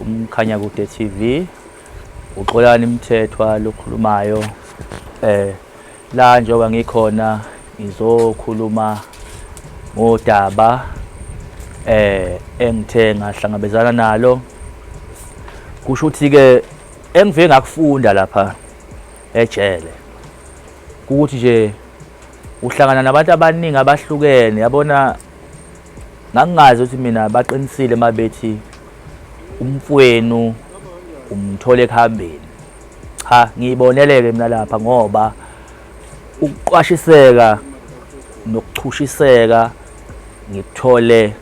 umkhanya kude TV uxolani mthethwa lokhulumayo eh la njengoba ngikhona ngizokhuluma ngodaba eh engithe ngahlangabezana nalo kusho ukuthi ke engiveke ngakufunda lapha ejele ukuthi nje uhlangana nabantu abaningi abahlukene yabona ngangingazi ukuthi mina baqinisile uma bethi umfwenu umthole ekuhambeni cha ngiyiboneleke mina lapha ngoba ukuqwashiseka nokuchushiseka ngikuthole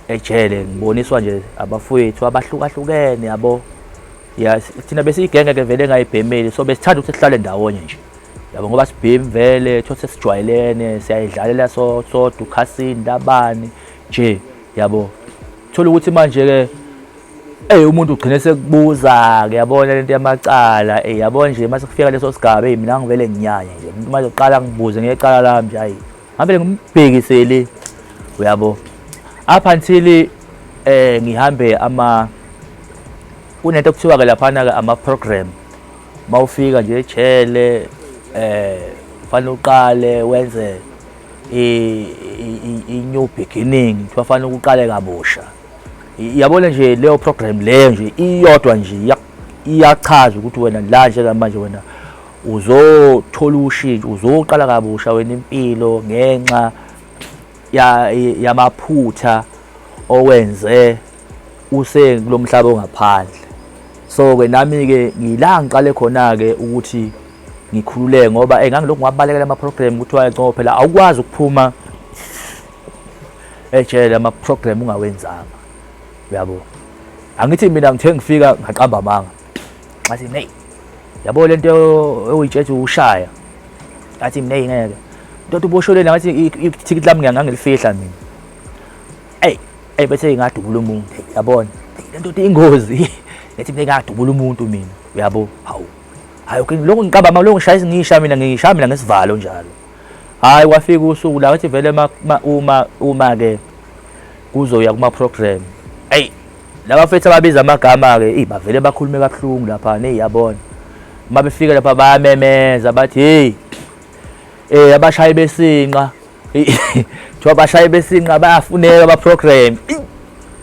ejele ngiboniswa nje abafowethu abahlukahlukene yabo ya thina besiyigenge ke vele engayibhemeli so besithanda ukuthi sihlale ndawonye nje yabo ngoba sibhemi vele thothi sesijwayelene siyayidlalela so sodwa ukhasini labani nje yabo thola ukuthi manje ke Ey umuntu ugcine sekubuza ke yabona lento yamacala ey yabo nje mase kufika leso sigaba ey mina ngivele nginyanye nje umuntu manje uqala ngibuze ngecala lami nje hayi ngabe ngimbhekiseli uyabo up until eh ngihambe ama kunento kuthiwa ke laphana ke ama program mawufika nje ejele eh fanele uqale wenze i new beginning kuthiwa fanele uqale kabusha yabona nje leyo program leyo nje iyodwa nje iyachaza ukuthi wena la njengamanje wena uzothola ushintsho uzoqala kabusha wena impilo ngenxa yamaphutha owenze usekulomhlaba ongaphandle so ke nami ke ngila ngiqale khona ke ukuthi ngikhululeke ngoba eh ngangilokhu ngiwabalekela ama program ukuthi wayencoba phela awukwazi ukuphuma ejele ama program ungawenzanga uyabo angithi mina ngithe ngifika ngaqamba amanga ngathi mina eyi yabo le nto ewuyitshetshe ushaya ngathi mina eyi ngeke ntoda ubosholeni ngathi ithikithi lami ngangilifihla mina eyi eyi bethe ingadubula umuntu yabona le ntoda ingozi ngathi mina ingadubula umuntu mina uyabo hawu hayi okay lokho ngiqaba ma lokho ngishaya ngisha mina ngishaya mina ngesivalo njalo hayi kwafika usuku la wathi vele uma uma ke kuzoya kuma program Laba fethu ababiza amagama-ke eyi bavele bakhulume kabuhlungu lapha neyi yabona uma befika lapha bayamemeza bathi heyi um abashayi besinqa kuthiwa abashayi besinqa bayafuneka baprogram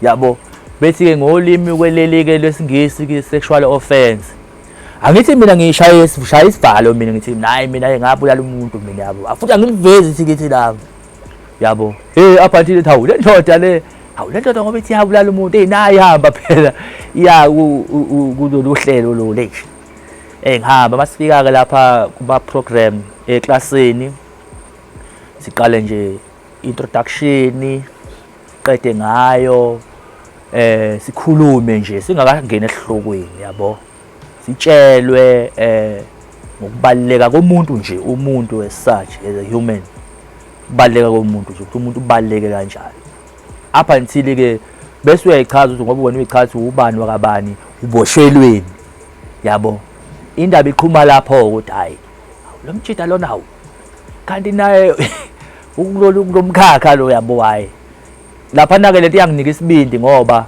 yabo bethi-ke ngolimi kweleli-ke lwesingisi sexual offense angithi mina ngishaya shaya isivalo mina ngithi nayi mina ke ngabulala umuntu mina yabo futhi angilivezi ithi ngithi lami yabo hey apha nthile thawu le ndoda le hawu le ndoda ngoba ithi yabulala umuntu eyi nayo ihamba phela ya kulolu hlelo lolu eyi eh, ngihamba masifika-ke lapha kuma-program eklasini siqale nje introduction qede ngayo eh sikhulume nje singakangeni esihlokweni yabo Sitshelwe eh ngokubaluleka komuntu nje umuntu as such as a human kubaluleka komuntu nje ukuthi umuntu ubaluleke kanjani up until ke bese uyayichaza ukuthi ngoba wena uyichaza ukuthi ubani wakabani uboshelweni yabo indaba iqhuma lapho ukuthi hayi lo mjida lona hawu kanti naye ukulolu kulomkhakha lo yabo hayi lapha nake lento iyanginika isibindi ngoba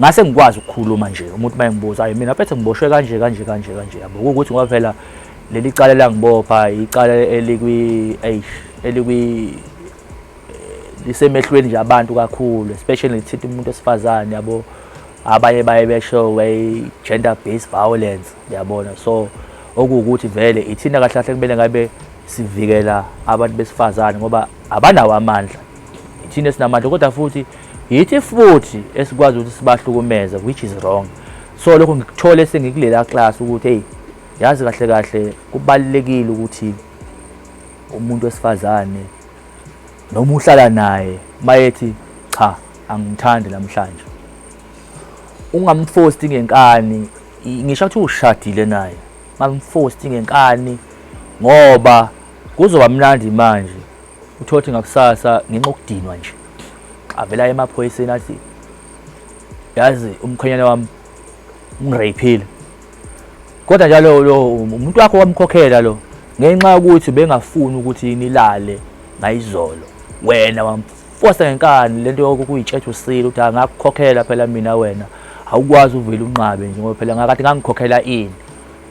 ngase ngikwazi ukukhuluma nje umuntu uma engibuza ayi mina phethe ngiboshwe kanje kanje kanje kanje yabo ukuthi ngoba phela leli cala langibopha icala elikwi eish elikwi eh, lisemehlweni nje abantu kakhulu especially lithinta umuntu wesifazane yabo abanye baye besho way gender based violence yabona so okuwukuthi vele ithina kahle kahle kumele ngabe sivikela abantu besifazane ngoba abanawo amandla thina esinamandla kodwa futhi yithi futhi esikwazi ukuthi sibahlukumeze which is wrong so lokho ngikuthole sengikulela class ukuthi hey yazi kahle kahle kubalekile ukuthi umuntu wesifazane noma uhlala naye mayethi cha angithandi namhlanje ungamfosti ngenkani ngisho ukuthi ushadile naye ngamfosti ngenkani ngoba kuzoba mnandi manje uthothi ngakusasa ngenxa okudinwa nje avela emaphoyiseni athi yazi umkhwenyana wami ungirayiphile kodwa njalo lo umuntu wakho wamkhokhela lo ngenxa yokuthi bengafuni ukuthi nilale ngayizolo wena wamfosa ngenkani lento yokuyitshetha usile ukuthi angakukhokhela phela mina wena awukwazi uvele unqabe nje ngoba phela ngakade ngangikhokhela ini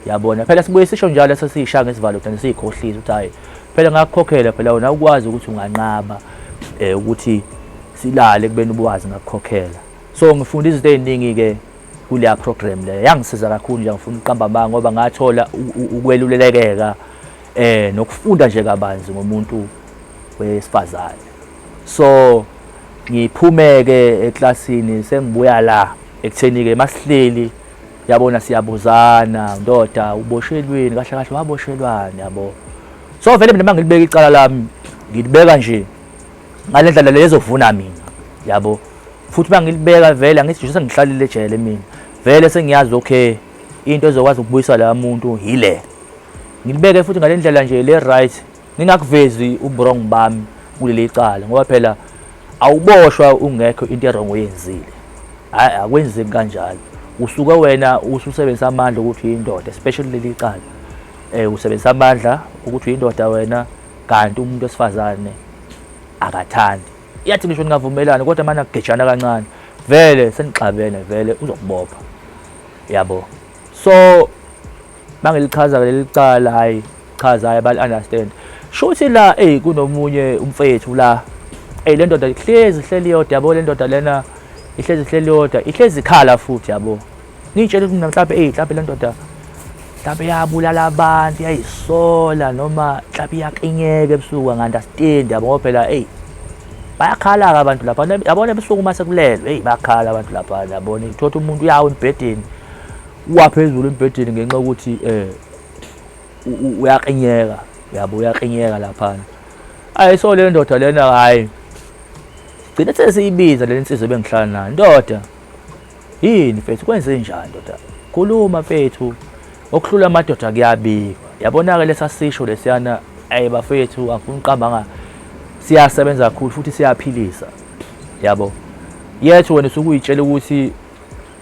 yabona phela sibuye sisho njalo leso siyishanga isivalo thina siyikhohlisa ukuthi hayi phela ngakukhokhela phela wena ukwazi ukuthi unganqaba eh ukuthi silale kubeni ubuwazi ngakukhokhela so ngifunda izinto eziningi ke kuleya program leyo yangisiza kakhulu nje ngifuna ukuqamba amanga ngoba ngathola ukwelulekeka eh nokufunda nje kabanzi ngomuntu wesifazane so ngiphumeke eklasini sengibuya la ekutheni ke masihleli yabona siyabuzana ndoda uboshelweni kahle kahle waboshelwani yabo so vele mina mangilibeka icala lami ngilibeka nje ngale ndlela lezovuna mina yabo futhi mangilibeka vele angithi nje sengihlalile ejele mina vele sengiyazi okay into ezokwazi ukubuyisa la muntu yile ngilibeke futhi ngale ndlela nje le right Ngingakuvezi uburong bami kuleli cala ngoba phela awuboshwa ungekho into erongo oyenzile. Hayi akwenzeki kanjalo. Usuke wena ususebenzisa amandla ukuthi uyindoda especially leli cala. Eh usebenzisa amandla ukuthi uyindoda wena kanti umuntu wesifazane akathandi. Yathi ngisho ningavumelana kodwa manje agejana kancane. Vele senixabene vele uzokubopha. Yabo. So Mangilichaza leli cala hayi chaza hayi bal understand. Shuthi la ey kunomunye umfethu la. Ey le ndoda ihlezi ihleli yodwa yabo le ndoda lena ihlezi ihleli yodwa ihlezi ikhala futhi yabo. Ngitshela ukuthi mhlawumbe ey mhlawumbe le ndoda mhlawumbe yabulala abantu yayisola noma mhlawumbe iyaqinyeka ebusuku angandastendi yabo ngoba phela eyi bayakhala-ke abantu lapha yabona ebusuku uma sekulelwe eyi bayakhala abantu lapha yabona uthola umuntu uyawa embhedeni waphezulu embhedeni ngenxa yokuthi eh uyaqinyeka yabo uyaqinyeka laphana ayi so le ndoda lena hayi gcine sesiyibiza le nsizwa ebengihlala nayo ndoda yini mfethu kwenze njani ndoda khuluma mfethu okuhlula amadoda kuyabikwa yabona-ke lesasisho lesiyana ayi bafethu angifuna uqambanga siyasebenza kakhulu futhi siyaphilisa yabo yethu wena usukuyitshela ukuthi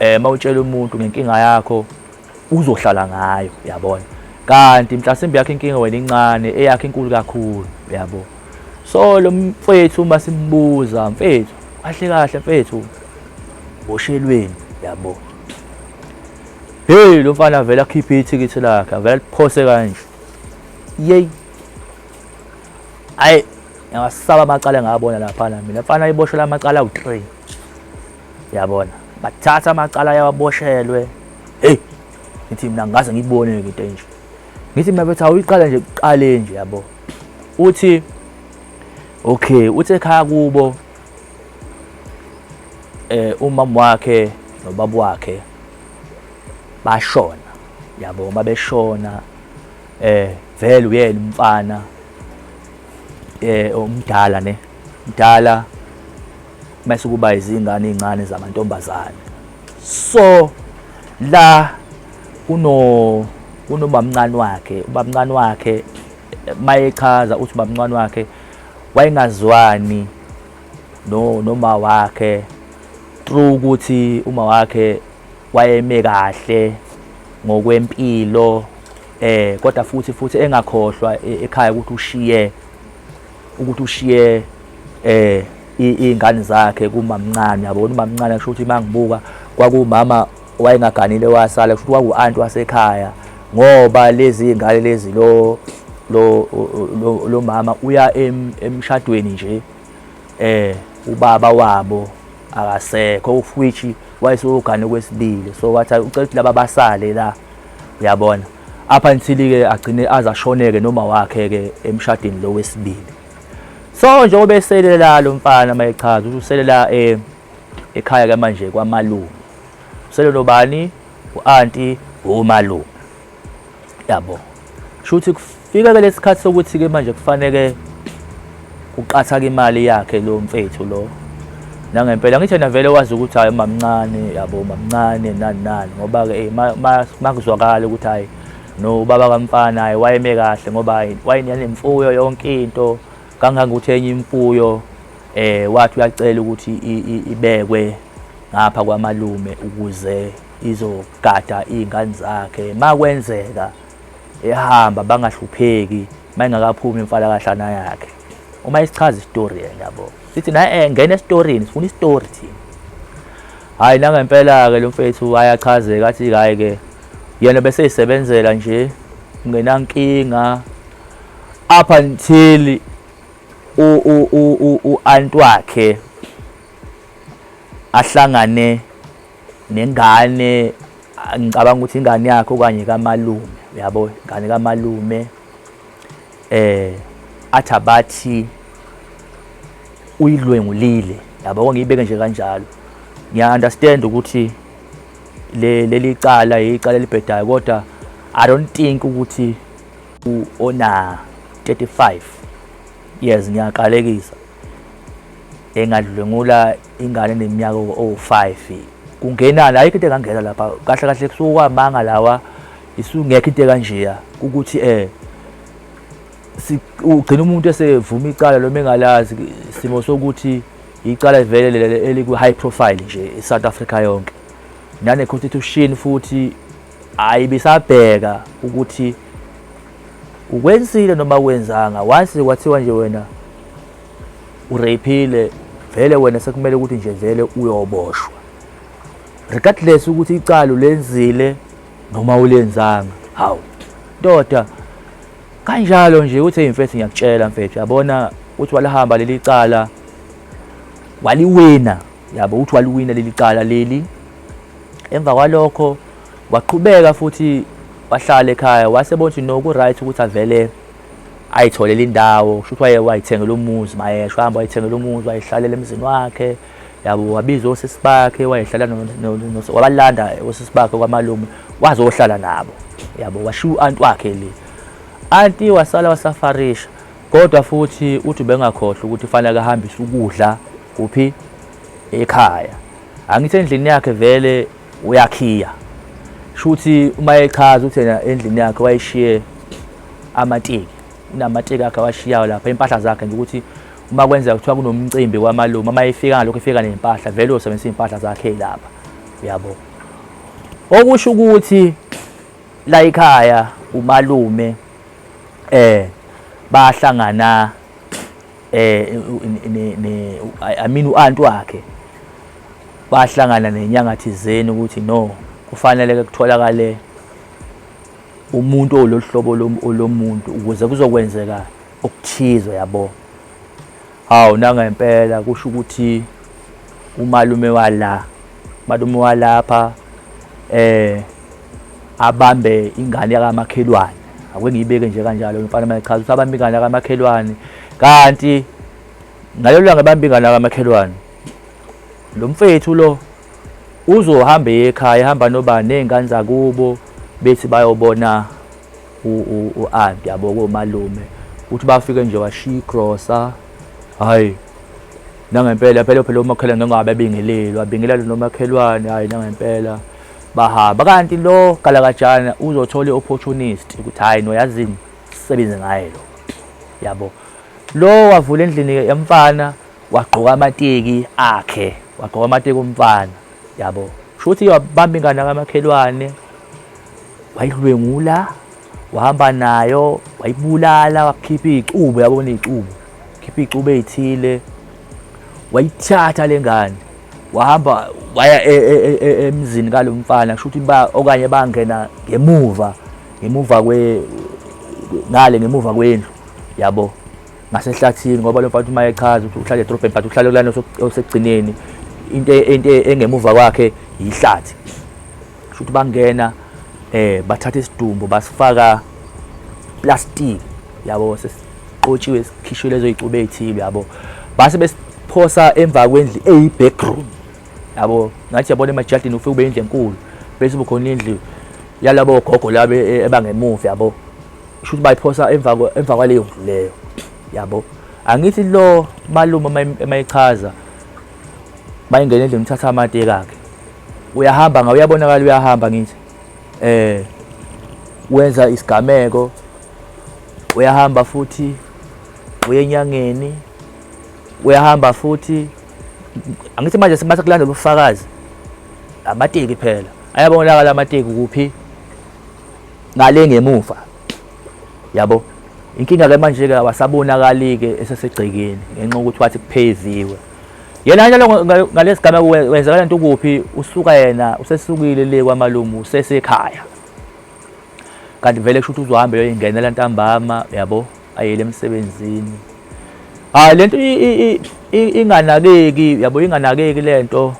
eh mawutshela umuntu ngenkinga yakho uzohlala ngayo yabona kanti mhlasimbe yakhe inkinga wena incane eyakhe inkulu kakhulu yabo so lo mfethu uma simbuza mfethu kahle kahle mfethu boshelweni yabo hey lo mfana avela akhiphe ithikithi lakhe avela liphose kanje yey hayi ngasaba amacala ngabona laphana mina mfana iboshela amacala ku-3 yabona bathatha amacala yawaboshelwe hey ngithi mina ngaze ngibone into enje ngithi mina bethi awuyiqala nje kuqale nje yabo uthi okay uthi ekhaya kubo eh umama wakhe nobaba wakhe bashona yabo uma beshona eh vele uyena umfana eh omdala ne mdala mase kuba izingane ezincane zamantombazane so la kuno kunobamncane wakhe ubamncane wakhe mayechaza uthi ubamncane wakhe wayengazwani no noma wakhe true ukuthi uma wakhe wayeme kahle ngokwempilo eh kodwa futhi futhi engakhohlwa e-, ekhaya ukuthi ushiye ukuthi ushiye eh izingane zakhe kumamncane yabona umamncane kusho ukuthi mangibuka kwakumama wayengaganile wasala kusho ukuthi kwaku-anti wasekhaya ngoba lezi ngane lezi lo lo lo mama uya emshadweni nje eh ubaba wabo akasekho of which wayesogane kwesibili so wathi ucela ukuthi laba basale la uyabona up until ke agcine azashoneke noma wakhe ke emshadini lo wesibili so njengoba eselela lo mfana mayechaza uselela eh ekhaya ke manje kwamalume usele nobani uanti umalume yabo shuthi kufika ke lesikhathi sokuthi ke manje kufanele Kuqathaka imali yakhe lo mfethu lo. Nangempela ngithe navele wazi ukuthi hayi mamncane yabo mamncane nani nani ngoba ke eh, makuzwakala ukuthi hayi no ubaba kamfana hayi wayeme kahle ngoba hayi wayenemfuyo yonke into kangangokuthi enye imfuyo eh wathi uyacela ukuthi ibekwe ngapha kwamalume ukuze izogada izingane zakhe makwenzeka ehamba bangahlupheki mayingakaphumi imfalakahlana yakhe uma isichaza istory yena yabo sithi naye eh, ngena esitorini sifuna istory thina hayi nangempela-ke lo mfethu ayachazeka athi hhayi-ke yena beseyisebenzela nje ngenankinga up until u-aunt wakhe ahlangane nengane ngicabanga ukuthi ingane yakhe okanye kamalume uyabo ingane kamalume eh athi abathi uyidlwengulile yabo ngiyibeke nje kanjalo ngiya understand ukuthi le leli cala icala elibhedayo kodwa i don't think ukuthi ona 35 years ngiyakalekisa engadlwengula ingane eneminyaka owu-5 kungenani ayikho into engangena lapha kahle kahle kusuke kwamanga lawa isungekho into ekanjeya ukuthi eh ugcina umuntu esevuma icala loma engalazi isimo sokuthi icala vele leli eliku-high profile nje e-south africa yonke nane-constitution futhi Hayi bisabheka ukuthi ukwenzile noma kwenzanga once kwathiwa nje wena ureyphile vele wena sekumele ukuthi nje vele uyoboshwa regardless ukuthi icala ulenzile noma ulenzanga hawu ndoda kanjalo nje uthi imfethu ngiyakutshela mfethu yabona uthi walihamba leli cala waliwina yabo uthi waliwina leli cala leli emva kwalokho waqhubeka futhi wahlala ekhaya wasebona ukuthi no ku-right ukuthi avele ayitholele indawo kusho ukuthi waye wayithengela umuzi mayesho hamba wayithengela umuzi wayehlalela emzini wakhe yabo wabiza osisi bakhe wayehlala wabalanda osisi bakhe kwamalume wazohlala nabo yabo washiya u-anti wakhe le anti wasala wasafarisha kodwa futhi uthi ubengakhohlwa ukuthi fanele ahambise ukudla kuphi ekhaya Angithi endlini yakhe vele uyakhiya shuthi uma echaza ukuthi yena endlini yakhe wayishiye amateki unamateki akhe awashiyayo lapha impahla zakhe nje ukuthi uma kwenzeka kuthiwa kunomcimbi kwamalume uma efika ngalokho efika nempahla vele usebenzisa impahla zakhe lapha uyabo okusho ukuthi la ikhaya umalume eh bahlangana eh ne i mean uanti wakhe bahlangana nenyanga thizeni ukuthi no kufanele ke kutholakale umuntu olohlobo lomuntu ukuze kuzokwenzeka okuthize yabo hawu nangempela kusho ukuthi umalume wala Malume walapha eh abambe ingane yakamakhelwane ake ngiyibeke nje kanjalo mfana mayichaza ukuthi abambe ingane yakamakhelwane kanti ngalelo langa bambe ingane yakamakhelwane lo mfethu lo uzohamba ekhaya ehamba nobani nezingane zakubo bethi bayobona u-anti yabo komalume ukuthi bafike nje washiya igrosa hhayi nangempela phela phela umakhelwane ngengabe abingeleli wabingelela lo makhelwane hayi nangempela bahamba kanti lo galakajana uzothola i-opportunist ukuthi hhayi noyazini sisebenze ngaye lo yabo lo wavula endlini yemfana wagqoka amateki akhe wagqoka amateki omfana yabo shuthi wabamba ingane kamakhelwane wayidlwengula wahamba nayo wayibulala wakhipha iy'cubo yabona iy'cubo khipha iy'cubo ey'thile wayithatha le ngane wahamba waya e, e, e, emzini kalo mfana kusho ukuthi okanye bangena ngemuva ngemuva kwe ngale ngemuva kwendlu yabo ngasehlathini ngoba lo mfana uma echaza ukuthi uhlale edrobheni but uhlale kulana osekugcineni into engemuva kwakhe yihlathi Shuthi bangena eh bathatha isidumbu basifaka plastic yabo sesixotshiwe sikhishwe lezo icuba ezithile yabo base besiphosa emva kwendli eyi backroom yabo ngathi yabona emajadini ufike ube indle enkulu bese ubukhona indlu yalabo gogo labe e, ebangemuva yabo shuthi bayiphosa emva emva kwaleyo ndlu leyo yabo angithi lo malume mayichaza bayingena endlini uthatha amate kakhe uyahamba nga uyabonakala uyahamba ngithi eh wenza isigameko uyahamba futhi uyenyangeni uyahamba futhi angithi manje sibatha kulandela ubufakazi amateki phela ayabonakala amateki kuphi ngale ngemuva yabo inkinga ke manje ke awasabonakali ke esesegcekeni ngenxa ukuthi wathi kupheziwe Yena njalo ngalesi gameko wenzakala nto kuphi usuka yena usesukile le kwamalumu usesekhaya. Kanti vele kusho ukuthi uzohambe yoyingenela ntambama yabo ayele emsebenzini. Hayi lento inganakeki yabo inganakeki lento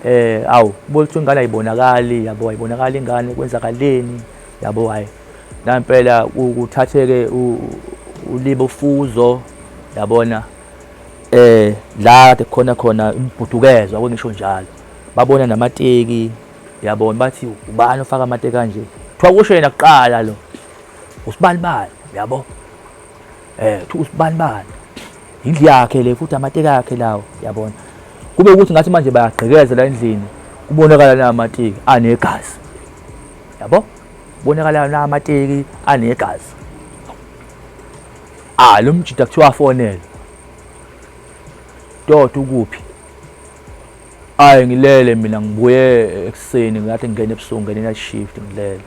eh awu ukuthi ingane ayibonakali yabo ayibonakali ingane kwenzakaleni yabo hayi nampela ukuthatheke ulibe ufuzo yabona eh la kade khona khona imibhudukezwa kwengisho njalo babona namateki yabona bathi ubani ofaka amateki kanje kuthiwa kusho yena kuqala lo usibanibani yabo eh kuthiwa usibanibani indlu yakhe le futhi amateki akhe lawo yabona kube ukuthi ngathi manje bayagqekeza la endlini kubonakala na amateki anegazi yabo kubonakala na amateki anegazi Ah lo mjita kuthiwa afonele. Doti ukuphi? Ayi ngilele mina ngibuye ekuseni ngathi ngingena ebusuku ngene night shift ngilele.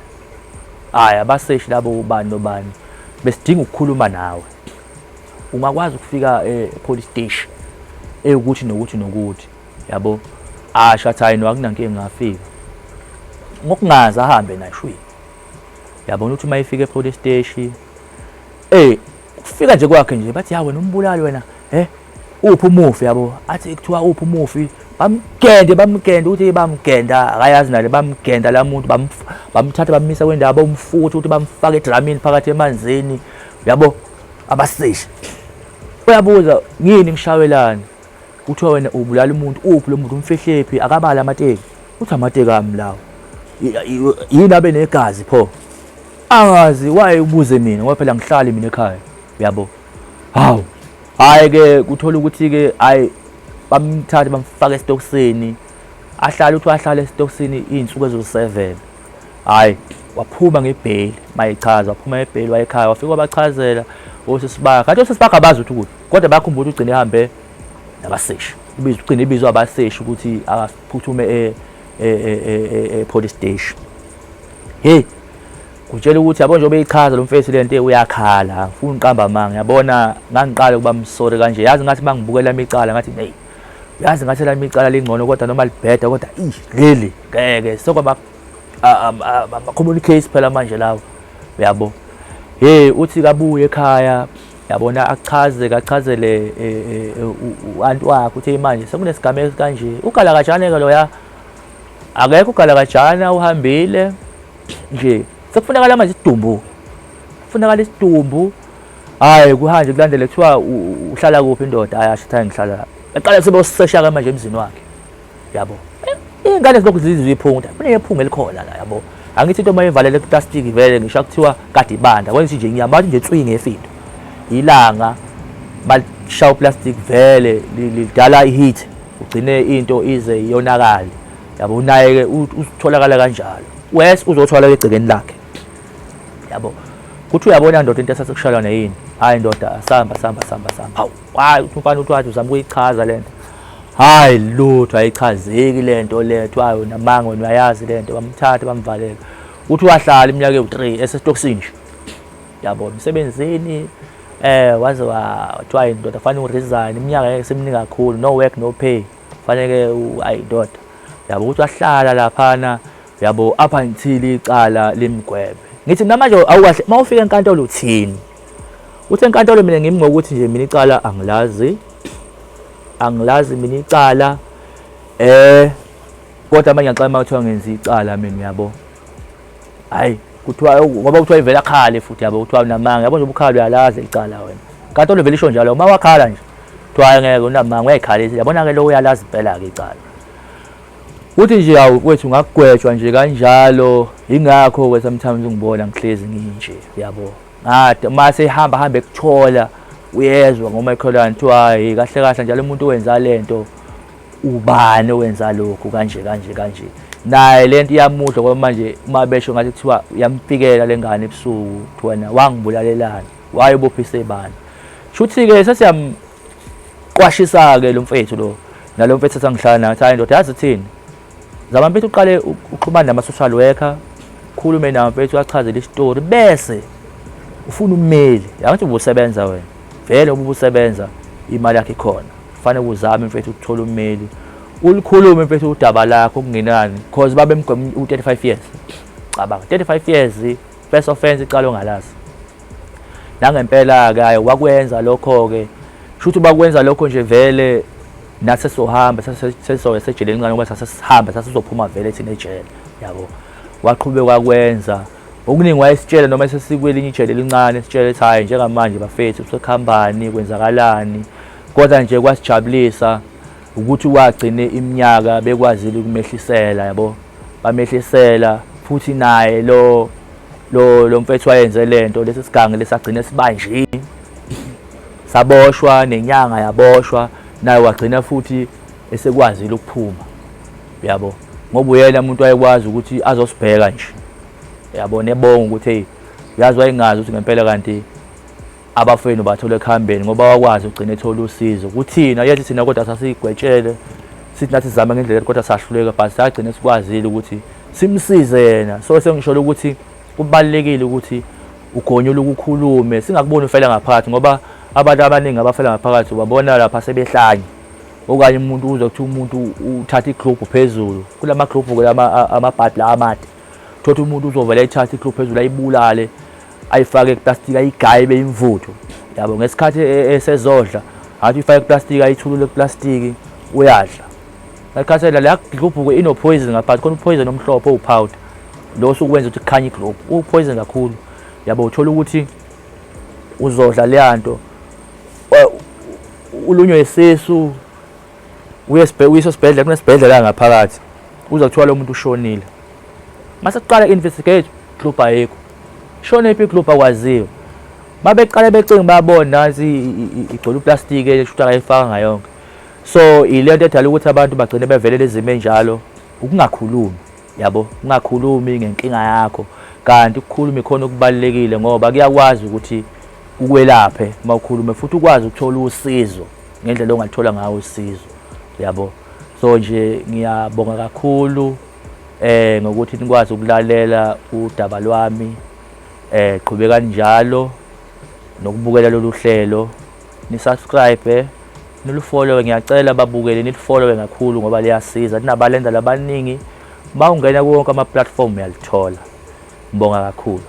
Ayi abaseshi labo ubani nobani besidinga ukukhuluma nawe. Ungakwazi ukufika e police station ewukuthi nokuthi nokuthi yabo asho athi hayi no akunankinga ngafika ngokungazi ahambe nashwi yabona ukuthi uma efika epolice station Eh kufika nje kwakhe nje bathi ya wena umbulali wena eh uphi umufi yabo athi kuthiwa uphi umufi bamgende bamgende ukuthi bamgenda akayazi nale bamgenda la muntu bamthatha bamisa kwendawo bamfuthi ukuthi bamfake edramini phakathi emanzini yabo abaseshi uyabuza ngini ngishawelani kuthiwa wena ubulala umuntu uphi lo muntu umfihlephi akabala amateki uthi amateki ami lawo yini abe negazi pho angazi waye ubuze mina ngoba phela ngihlali mina ekhaya uyabo hawu hayi ke kuthola ukuthi ke hayi bamthathe bamfaka esitokisini ahlale uthi ahlale esitokisini izinsuku ezo7 hayi waphuma ngebheli mayichaza waphuma ngebheli wayekhaya wafika wabachazela osisibaga kanti osisibaga abazi ukuthi ukuthi kodwa bayakhumbula ukuthi ugcine ehambe nabaseshi ubizwa ugcine ibizwa abaseshi ukuthi akaphuthume e, e, e, e police station hey kutshela ukuthi yabo njengoba eyichaza lo mfethu le nto uyakhala angifuni uqamba amanga yabona ngangiqala ukuba msori kanje yazi ngathi uma ngibukela imicala ngathi neyi yazi ngathi lami icala lingcono kodwa noma libheda kodwa ish leli ngeke sokwaba ama-communicates phela manje lawo uyabo hey uthi kabuye ekhaya yabona achaze kachazele e, e, e, u-anti wakhe uthi manje sekunesigameko kanje ugalakajane-ke loya Akekho ugalakajana uhambile nje. Sekufunakala manje isidumbu. Kufunakala isidumbu. Hayi kuhanje kulandele kuthiwa uhlala kuphi indoda ayasho ukuthi ngihlala lapha. Eqala sibe usesha ke manje emzini wakhe. Yabo. Ingane zilokhu zizizwa iphunga. Kuningi ephunga elikhona la yabo. Angithi into uma ivalele kuplastiki vele ngisho kuthiwa kade ibanda. Kwenza nje ngiyamathi nje tswingi ngefindo. Ilanga balishaya uplastic vele lidala iheat ugcine into ize iyonakale yabo unaye-ke utholakala kanjalo wes uzothwala egcekeni lakhe yabo kuthi uyabona ndoda into esase kushayelwa neyini hhayi ndoda asihamba sihamba sihamba sihamba hawu hhayi uthi umfana uthi wathi uzama ukuyichaza le nto hhayi lutho ayichazeki le nto le kuthiwa yona manga wena uyayazi le nto bamthathe bamvalele uthi wahlala iminyaka ewu-three esesitokisini nje yabo emsebenzini eh waze wathiwa indoda fanele uresign iminyaka ngeke simningi kakhulu no work no pay fanele ayi indoda yabo ukuthi wahlala laphana yabo up until icala limgwebe ngithi namanje awukahle uma ufika enkantolo uthini uthe enkantolo mina ngimi ngokuthi nje mina icala angilazi angilazi mina icala eh kodwa manje ngixama ukuthi ngenza icala mina yabo hayi kuthiwa ngoba kuthiwa ivele akhale futhi yabo kuthiwa unamanga yabo nje ubukhala uyalazi licala wena kanti oluvele isho njalo uma wakhala nje kuthiwa ngeke unamanga uyayikhalisa yabona ke lo uyalazi impela ke icala uthi nje hawu kwethu ngakugwetshwa nje kanjalo ingakho ke sometimes ungibona ngihlezi nginje yabo ngade uma sehamba hambe kuthola uyezwa ngomakhelwane kuthiwa hayi kahle kahle njalo umuntu owenza lento ubani owenza lokhu kanje kanje kanje naye lento iyamudla ngoba manje uma besho ngathi kuthiwa uyamfikela le ngane ebusuku kuthi wena wangibulalelani wayebophisa ibani shuthi-ke sesiyamqwashisa-ke lo mfethu lo nalo mfethu esangihlala naye ukuthi hayi ndoda yazi thini zama mfethu uqale uxhumane nama-social worker khulume nawo mfethu achazele isitori bese ufuna ummeli yangathi ubusebenza wena vele ububusebenza imali yakhe ikhona kufanele uzame mfethu ukuthola ummeli ulikhulume mfethu udaba lakho kungenani because babemgwema u-35 years cabanga 35 years first offense iqala ongalazi nangempela-ke ayi wakwenza lokho-ke shuthi bakwenza lokho nje vele nathi sesizohamba sesizoya sejele elincane ngoba sasesihambe sasizophuma vele thina ejele yabo waqhubeka wakwenza okuningi wayesitshela noma sesikwelinye ijele elincane sitshele ukuthi hhayi njengamanje bafethu sekukhampani kwenzakalani kodwa nje kwasijabulisa ukuthi wagcine iminyaka bekwazile ukumehlisela yabo bamehlisela futhi naye lo lo lo mfethu wayenze lento lesi sigange lesagcina sibanjini saboshwa nenyanga yaboshwa naye wagcina futhi esekwazile ukuphuma yabo ngoba uyena umuntu wayekwazi ukuthi azosibheka nje yabo nebonga ukuthi hey yazi wayengazi ukuthi ngempela kanti abafowenu batholwe ekuhambeni ngoba wakwazi ugcine ethola usizo kuthina yethi thina kodwa sasigwetshele sithi nathi sizama ngendlela kodwa sahluleka but sagcine sikwazile ukuthi simsize yena so sengisholo ukuthi kubalekile ukuthi ugonyula ukukhulume singakuboni ufela ngaphakathi ngoba abantu abaningi abafela ngaphakathi ubabona lapha sebehlanye okanye umuntu uzwa ukuthi umuntu uthatha iglobe phezulu kulama globe kulama amabhadi la amade thothi umuntu uzovela ethatha iglobe phezulu ayibulale ayifake eplastika ayigaye ibe imvuthu yabo ngesikhathi e, e, esezodla athi ifake eplastika ayithulule eplastiki uyadla nakhathela la globhuko ino poison ngaphakathi khona poison omhlophe owupowder lo usukwenza ukuthi kukhanye iglobe upoison kakhulu yabo uthola ukuthi uzodla leyanto ulunywe isisu uyisibhedlela sibhedlela kunesibhedlela ngaphakathi uza kuthiwa lo muntu ushonile mase kuqala investigate club ayikho shone phi club akwaziyo babeqale becinga babona nansi igcwele uplastiki eshuthi akayifaka ngayonke so ile nto edala ukuthi abantu bagcine bevelele izimo enjalo ukungakhulumi yabo ungakhulumi ngenkinga yakho kanti ukukhuluma ikhona okubalekile ngoba kuyakwazi ukuthi ukwelaphe uma ukhulume futhi ukwazi ukuthola usizo ngendlela ongathola ngayo usizo yabo so nje ngiyabonga kakhulu eh ngokuthi nikwazi ukulalela udaba lwami eh qhubeka njalo nokubukela lolu hlelo ni subscribe nilufollowe ngiyacela babukele nilifollowe kakhulu ngoba liyasiza ninabalenda labaningi uma ungena kuwonke ama-platform uyalithola ngibonga kakhulu